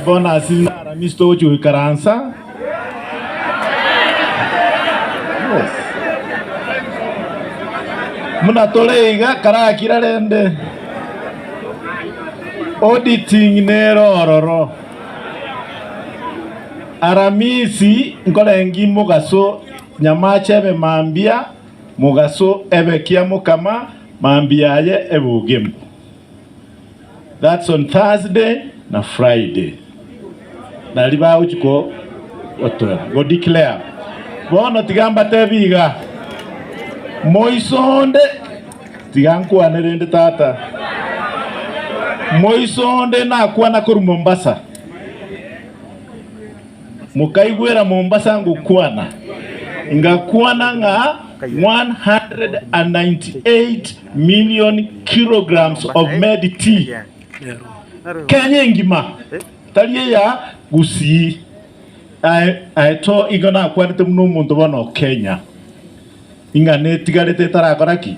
Bonus naramisi togochia goikaransa. Muna tore iga karakira rende auditing nero ororo. Aramisi nkorengi mogaso nyamache ebe mambia mogaso ebe kiamokama mambia aye ebe ogemu. that's on Thursday na Friday, naria bagochia ko gotoera, go declare. Bono tiga mbatebie iga, moiso onde, tiga nkwane rende tata, moiso onde nakwana korwa Mombasa. Mokaigwera Mombasa ngokwana, ngakwana ng'a 198 million kilograms of made tea Kenya engima, tari eya Gusii aye aye to, igo nakwanete buna omonto bono Kenya ing'ana etigarete etarakora ki?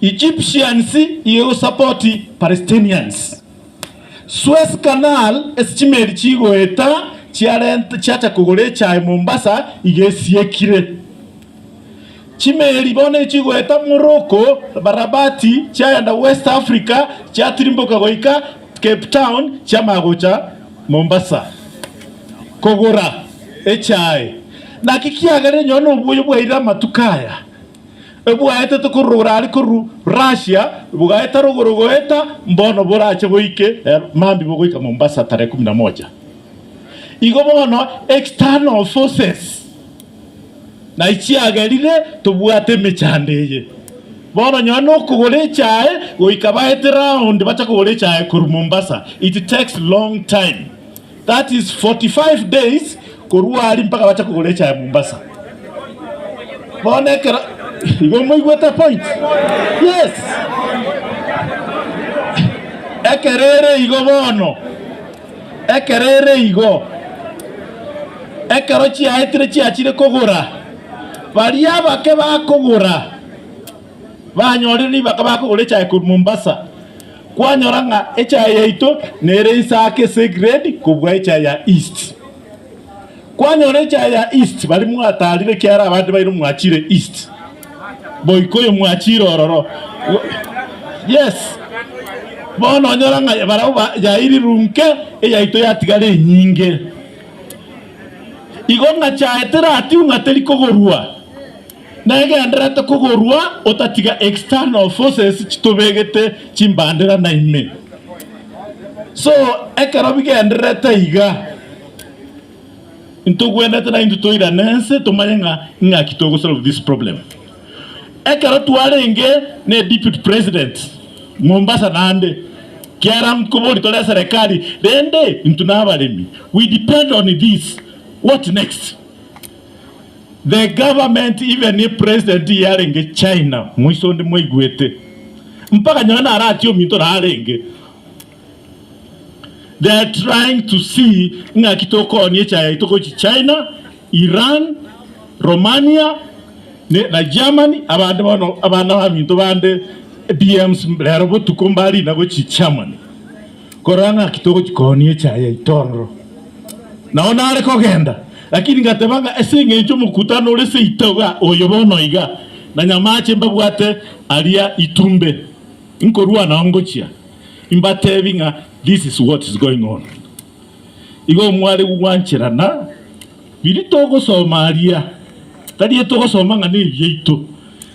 Egyptians iu support Palestinians. Suez Canal ase chimeri chigoeta chiarenta chiacha kogora echae Mombasa iga esiekire. Chimeri bono chigoeta Morocco, Rabat chiagenda West Africa chiatirimboka goika Cape Town chiamanya gocha Mombasa kogora echae. Naki kiagerire nyora noboyo bwaire amatuko aya. ebwaetete korwa ore are korwa Russia bogaeta rogoro goeta mbono borache boike eh, mambi bogoika Mombasa tarehe kumi na moja. Igo bono external forces naye chiagerire tobwate emechando eye. Bono nyowe nokogora echae goika baete round bacha kogora echae korwa Mombasa it takes long time. That is 45 days korwa aria mpaka bache kogora echa ya Mombasa. Bono ekero igo moigwete point? Yes. Ekero ere igo bono, ekero ere igo, ekero chiaetire chiachire kogora, baria abake bakogora banyorire ribaka bakogora echae korwa Mombasa. Kwanyora ng'a echae yaito nere inse ake se grade kobua echae ya East. Kwanyora echae ya East bari mwataarire ekiara abande baino mwachire East. Boika oyo mwachire ororo. Yes. Bono onyora ng'a barao ba yairi runke eyaito yatigara enyinge. Igo ng'a chae teratiwu ng'a teri kogorua. Negenderete kogorua otatiga external forces chitobegete chimbandera na ime. So ekero bigendererete iga, intogwenerete naintwe toirane ense tomanye ng'a ing'aki togo solve this problem. Ekero twarenge ne deputy president Mombasa naende, kiara nkobori tore eserekari rende intwe nabaremi we depend on this what next? The government even if president iye arenge China moiso onde mwaigwete mpaka nyowe naro atie ominto naro arenge they are trying to see ng'aki tokooni echae yaito gochi China, Iran, Romania ne na Germany abande bono abana baminto bande BMs rero botuko mbarina gochi Germany. Korora ng'aki togochia koonia echae yaito ororo. Nao nare kogenda, lakini ngateba ng'a ase engencho omokutano ore seito iga oyo bono iga, na nyamache mbabwate aria itumbe, nkorua nao ngochia, imbatebi ng'a this is what is going on. Igo omwaregu gwanchera na biria togosoma aria, tari etogosoma ng'a nebiaito.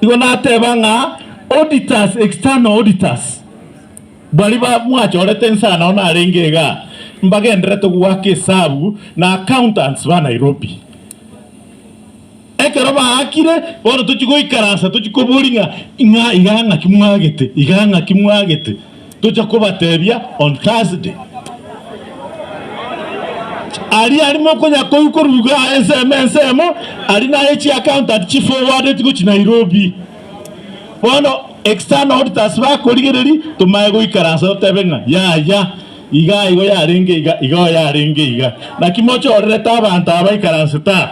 Igo nateba ng'a auditors, external auditors, baria ba mwachorete ense nao narenge iga, mbagenderete goaka esabu na accountants ba Nairobi. Ekero baakire, bono tochie goikaransa tochie koboria ng'a, ng'a iga ng'aki mwagete, iga ng'aki mwagete. Tocha kobatebia on Thursday. Aria aria mokonya koigwa koruga ensemo ensemo aria naye chi accountant chi forwarded gochi Nairobi. Bono external auditors bakorigereri tomae goikaransa totebe ng'a yaya iga igo yarenge iga iga yarenge iga. Naki mochorerete abanto aba baikaransete aa.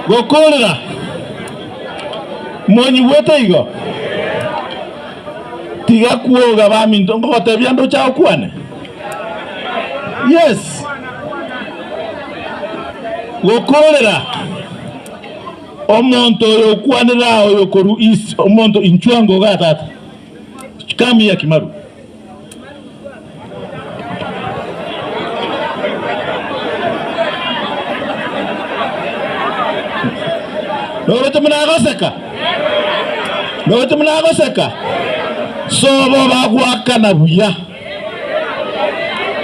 Gokoorera. Monyigwete igo? Tiga kwoga baminto, ngogotebia nde ocha okwane. Yes. Gokoorera. Omonto oyo okwanera oyo korwa east, omonto inchwa ngoga tata. Come here Kimaru. Noroche buna agoseka, noroche buna agoseka, sobo bagoakana buya.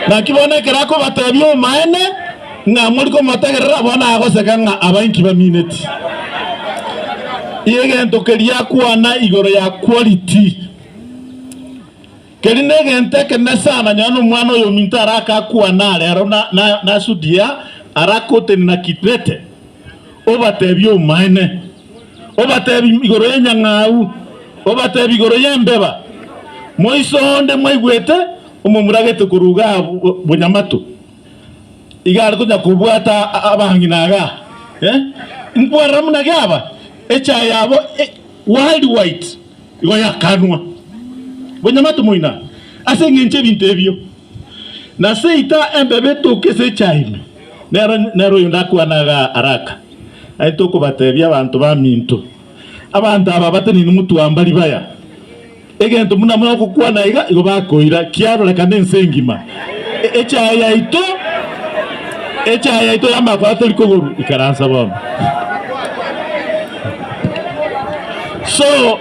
Naki bono ekero akobatebia omaene ng'a mori komotegerera, bono agoseka ng'a aba inki bamineti. Egento keria akwana igoro ya quality. Keria negento ekenene sana nonya nomwana oyominto arake akwane are aro nasudie arake otenena Kikrete, obatebie omoene, obatebie igoro y'enyang'au, obatebie igoro y'embeba, moise onde mwaigwete omomura agete korwa iga bonyamatu, iga are konya kobwata abang'ina iga, inkwarera buna giaba, echaye yabo white white. Igo yakanwa bonyamate moina ase engencho y'ebinto ebio, na seita embebe etoke ase echaye ime, nero nero oyonde akwane aga araka, naintwe okobatebia abanto baminto, Abanto aba batenene motwamba ribaya, egento buna mogokwana iga igo bakoira, kiarorekana ense engima. Echaye yaito, echaye yaito y'amakwaro tori kogorwa ikaransa bono. So,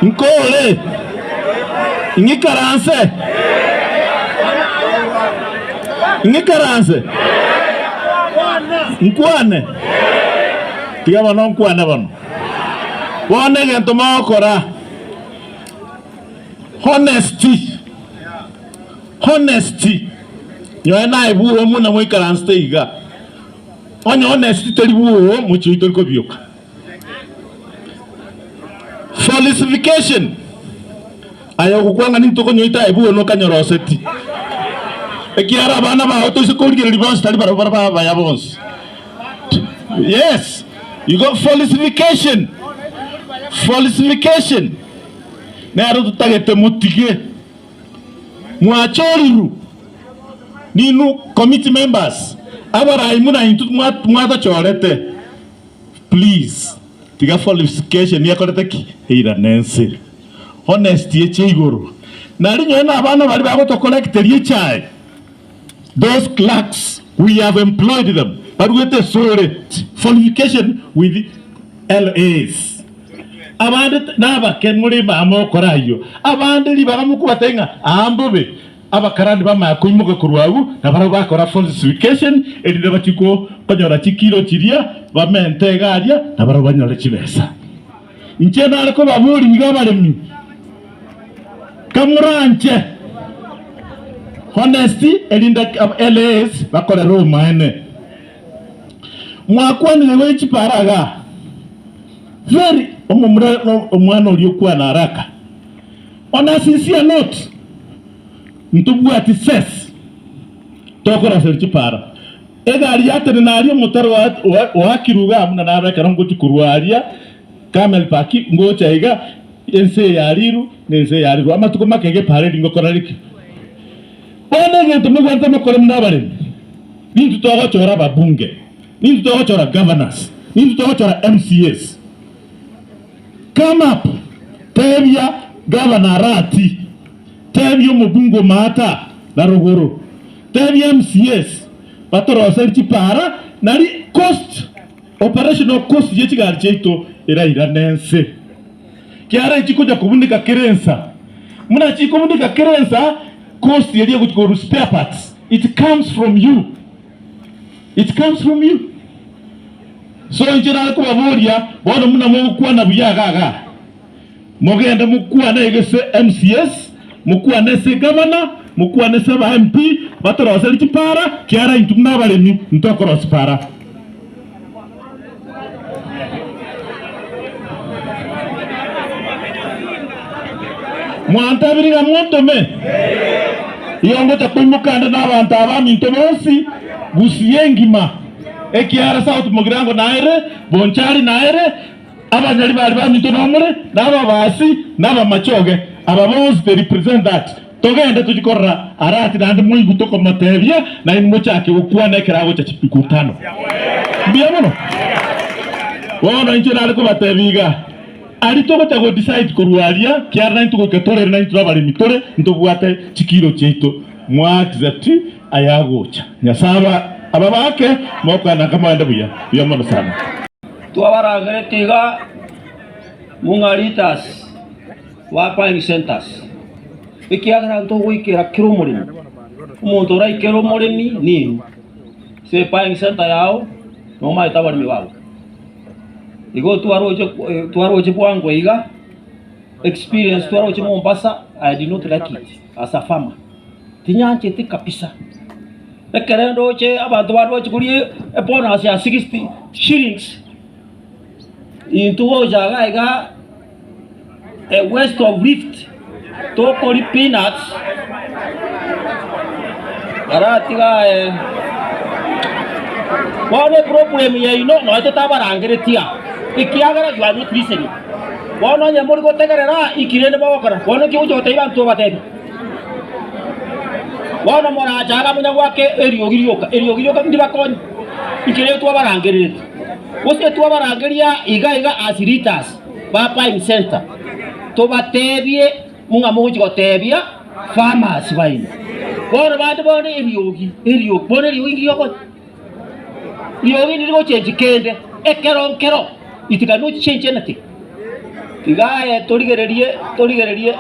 nkore ng'ikaranse ng'ikaranse nkwane tiga bono nkwane bono Bono egento mogokora, honesty, honesty, nyoe naye bwogo buna moikaransete iga, onye honesty teri bwogo mochie oito tori kobioka. Falsification. Aye ogokwang'ana intwe konyoita aye buna okanyoroseti, ekiagera abana bao toise korigereria bonsi tari barabwo baraba abaya bonsi. Yes, igo falsification, falsification nero totagete motige. Mwachorirwe ninwe committee members abarai buna intwe mwatochorete, please tiga falsification ekorete ki? Eirane ense. honest eche igoro nari nyoe nabana baria bagotocollecteria echae those clerks we have employed them baruete esore fornication with LAs abande nabake muri mama okora ayio abande ribaga mokobatebia ng'a aa mbobe abakarani bamaya koimoka korwa agwo na barabwo bakora falsification erinde bachie konyora chikiro chiria bamente iga aria na barabwo banyore chibesa. Inche nare kobaboria iga abaremi, kamoranche honesty, erinde LAs bakorere omoene. Mwakwanire igoro chiparaga, very omomura omwana oria okwana haraka, on a sincere note, ntobwati ses tokoraseri chipara. Egari ya tene naria omotaro oakirwe iga buna naro ekero ngochia korwa aria Kamel Paki ngocha iga ense ya Riru na ense ya Riru amatuko make iga eparedi ngokora riki? Bono egento mogwanete mokore buna abaremi, ninto togochora ababunge, ninto togochora governors, ninto togochora MCAs. Come up tebia governor arati, tebia omobunge omata na rogoro. Tebia MCAs batoroseri chipara nari cost operational cost ye chigari chiaito erairane ense kiara echi konya kobuneka kera ensa muna chikobuneka kera ensa cost eria egochi korwa spare parts it comes from you it comes from you so inche nare kobaboria bono muna mogokwana buya iga iga. Mogende mokwane egese MCS, mokwane ase egavana, mokwane ase aba MP batorosere chipara, kiara intwe buna abaremi intokorosia para. Mwantabiri ng'a montome? Igo ngocha koimoka ande nabanto aba baminto bonsi Gusii engima, ekiara South Mugirango naere, Bonchari naere, Abanyori bare baminto nomore, na ababaasi, na abamachoge, aba bonsi they represent that. Togende tochie korora Arati naende moigwe tokomotebia, nainwe mochake gokwana ekero agocha chituko tano. Mbuya mono. Bono inche nare kobatebia iga, aria togocha go decide korwa aria, kiara naintwe goika torere naintwe abaremi tore, ntobwate chikiro chiaito. Mwa accept ayagocha. Nyasae ababake mokoananka moende buya buya mono sana. Twabarangerete iga mung'a leaders ba buying centers, ekiagera ntogoikera kera omoremi. Omonto oraikere omoremi nigo ase buying center yao nomaete abaremi bago. Igo twaroche twaroche bwango iga experience twaroche Mombasa I did not like it. Asafama, tinyancheti kabisa. Ekero ndoche abanto bare bagochi koria ebonus ya sixty shillings, intwe gocha iga iga west of rift tokoria peanuts, baratiga aye, bono eproblem yaino nonye totabarangereti aa, ekiagera you are not listening. Bono onye mori gotegerera, iki rende mogokora. Bono inki ogocha gotebia abanto obatebie? Bono morache aria munya gwake eriogi rioka, eriogi rioka ndibakonye, inki rende twabarangerereti? Gose twabarangeria iga iga as leaders ba Pine Centre, tobatebie ng'a mogochi gotebia farmers baino. Bono bande bono eriogi, eriogi, bono eriogi inki riokonya? Rirorio nirige ochenchi kende ekero nkero itika nochichenchianete igaye torigererie torigererie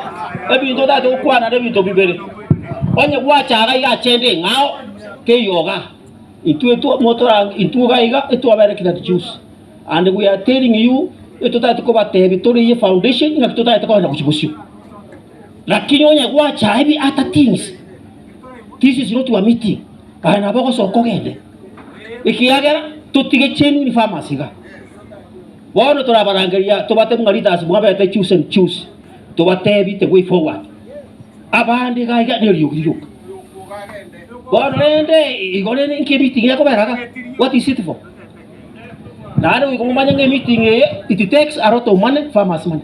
ebinto otagete gokwana na ebinto bibere onye gwachaga iga chende ing'ao teiyoga intwe twa motora intwe iga iga etwabere kira tujusi and we are telling you etotagete kobatebi toriyi foundation ng'aki totagete kogenda gochi bosio. Lakini onye gwacha ebi ata things, this is not your meeting, aye nabo ogosoka ogende, ekiagera totige chenuni farmers iga. Bono torabarangeria tobate buna leaders mwabete choose and choose, tobatebi the way forward. Abande iga iga neriogi rioka. Bono rende igo rende inki meeting ekobera iga? What is it for? Naende goika momanye ng'a meeting eye it takes a lot of money, farmers money.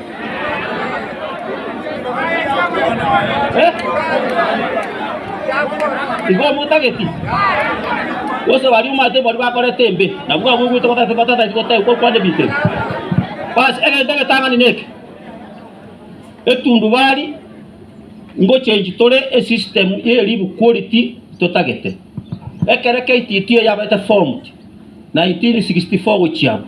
Igo omotageti gose baria omate baria bakorete embe, nabwo abwo ogwete batagete batataeti goteegwa okwana ebitebo. Basi egento egetang'ani neke, etundubari ngochengi tore esystem ye elibu quality totagete. Ekero KTT yabeete formed 1964 gochia abwo.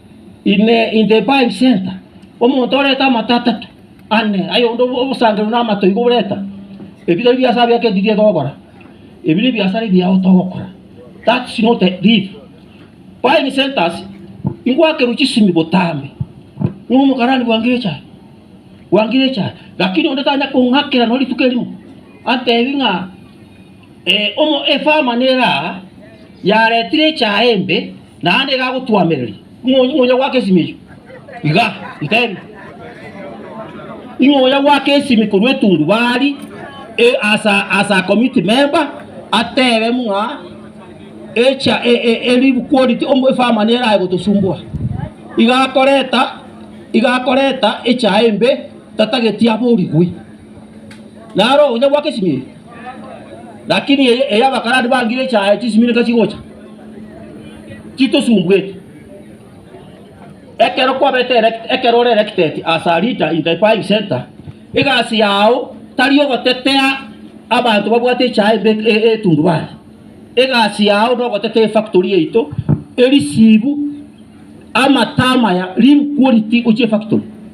In the, in the Bible Center, omonto oreta amato atato, ane, aye onde obo- obosangereru na amato igo oreta. Ebi tari biasara bia kedirie togokora. Ebi nebiasara ebiao togokora. That's not the deal. Buying centers, ingwakerwa chisimi botambe. Ng'o omokarani bwangire echae? Bwangire echae. Lakini onde tanya kong'akera nonye rituko erimo, atebi ng'a Omo efama neraa yaretire echaye embe naende egagotwamereria ing'onya ing'onya gwaka esimi eyio iga ntebi ing'onya gwaka esimi korwa etundubari e- asa asa community member atebe buna echa e- e- eribu quality omo efama nera aye gotosumbua iga akoreta iga akoreta echaye embe tatageti aborigwe. Naro ogocha gwa kesimiri, lakini eye eye abakarani bangire echaye chisimiri nka chigocha, chitosumbweti. Ekero kwabete elect- ekero ore elected as a leader in the buying centre, egasi yao tari ogotetea abanto babwate echaye mbe e- e- etundubari. Egasi yao nogotetea efactory yaito, erisibu, amata amaya, real quality gochia efactory.